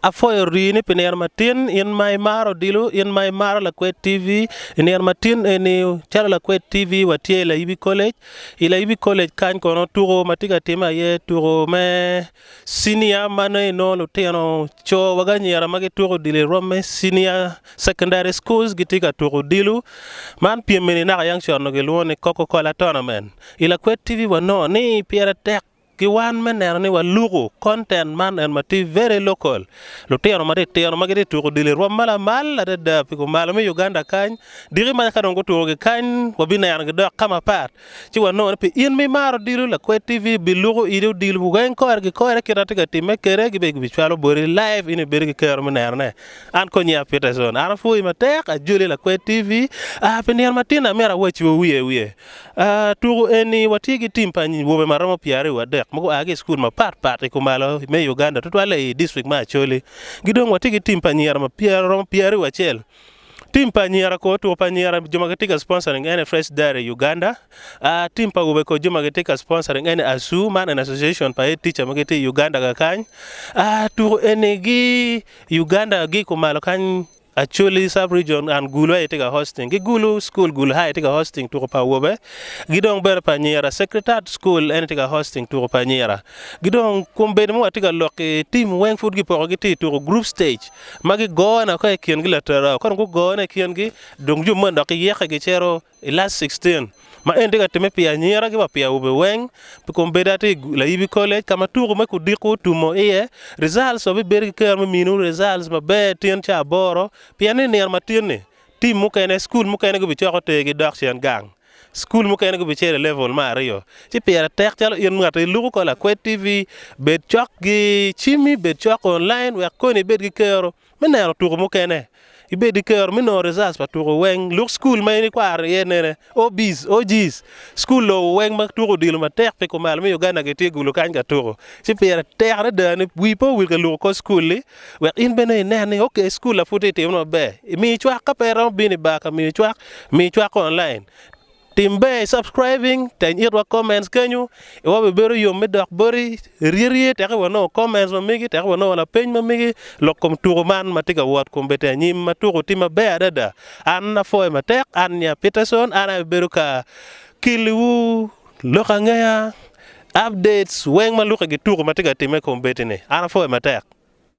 Apwoyo rii ni pi nino matin in ma imaro odilo in ma imaro lakwed TV i nino matin eni calo lakwed TV watye i Layibi College i Layibi College kany kono tuko ma tye ka timme aye tuko me cinia ma nongo inongo lutino co wa ki anyira ma gituko odilo i rwom me cinia secondary schools gitye ka tuko odilo man pyem eni naka yang con onongo kilwongo ni Cococola tournament i lakwed TV wanongo ni pire tek ki wan me neno ni waluku content man en ma ti very local lutino ma ti tino ma giti tuku odilo i rwom ma lamal adada pi ku malo me Uganda kany diki ma ka dong gutuku gi kany wabi neno gi dok ka mapat ci wanongo ni pi in ma imaro odilo Lakwed TV bi luku idi odilo weng kore ki kore kit ma ti ka timme kede ki bene ki bi cwalo boti live in ibedo ki kero me neno ne an kong nyinga Peterson an apwoyi matek ajoli Lakwed TV aa pi nino ma tin ni amito awacciwu wiye wiye. Tuku eni watye ki tim pa nyibobe ma romo pyeraryo wadek ma gua ki i cukul mapatpat i kumalo me Uganda tutwalle i dictrict me Acholi. Ki dong watye ki tim pa anyira ma romo pyeraryo acel. Tim pa anyira kono otuko pa anyira jo ma gitye ka sponsoring ene Fresh Dairy Uganda, tim pa awobe kono jo ma gitye ka sponsoring ene ASU man eni Association pa Head Teacher ma gitye i Uganda kakany. Tuku eni gi Uganda gi kumalo kany. Acholi sub region and Gulu aye tye ka hosting ki Gulu school Gulu high tye ka hosting tuko pa awobe ki dong bene pa anyira Secretariat school en aye tye ka hosting tuko pa anyira ki dong kombeddi ma watye ka lok ki team weng pud gipoko gitye i tuko group stage ma gigone woko ikingi laterra ka dong gugone ikingi dong jo moni dok giyeke gicito I lac 16 ma eni tye ka timme pi anyira ki wa pi awobe weng, pi kom bedo atye i Layibi College ka ma tuku me kudiko otumo iye, results wa bibedo ki kero me minu results maber tyen ca aboro pien ni i nino ma tin ni team mukene, school mukene gubicoko ter gi dok cen gang, school mukene gubicito i level me aryo ci pire tek calo in ngati iluku ko Lakwed TV bed cok gi cimi bed cok online wek koni ibed ki kero. me neno tuko mukene, ibed i kero me nongo results pa tuko weng. Luk cukul ma in ikwaro iye nene, OBs, OGs, cukul lobo weng ma tuko odilo matek pi kumalo me Uganda gitye gulu kany ka tuko. Ci pire tek adada ni wii pe owil ka luko kor cukul li wek in bene inen ni ok cukul-la pud tye timo maber. Mii cwak ka pe iromo bino i bar ka miyo cwak, mii cwak online. Tim ber i subscribing teny itwa comments kenyo i wa bebedo yom me dok boti rye rye tek i wa nongo comments ma megi tek i wa nongo lapeny ma megi lok kom tuku man matye ka wot kom bete anyim ma tuku tye ma ber adada an apwoyo matek an nya Peterson an aye abedo ka kili wu lok angeya updates weng ma luki gi tuku matye ka time kom beti ni an apwoyo matek.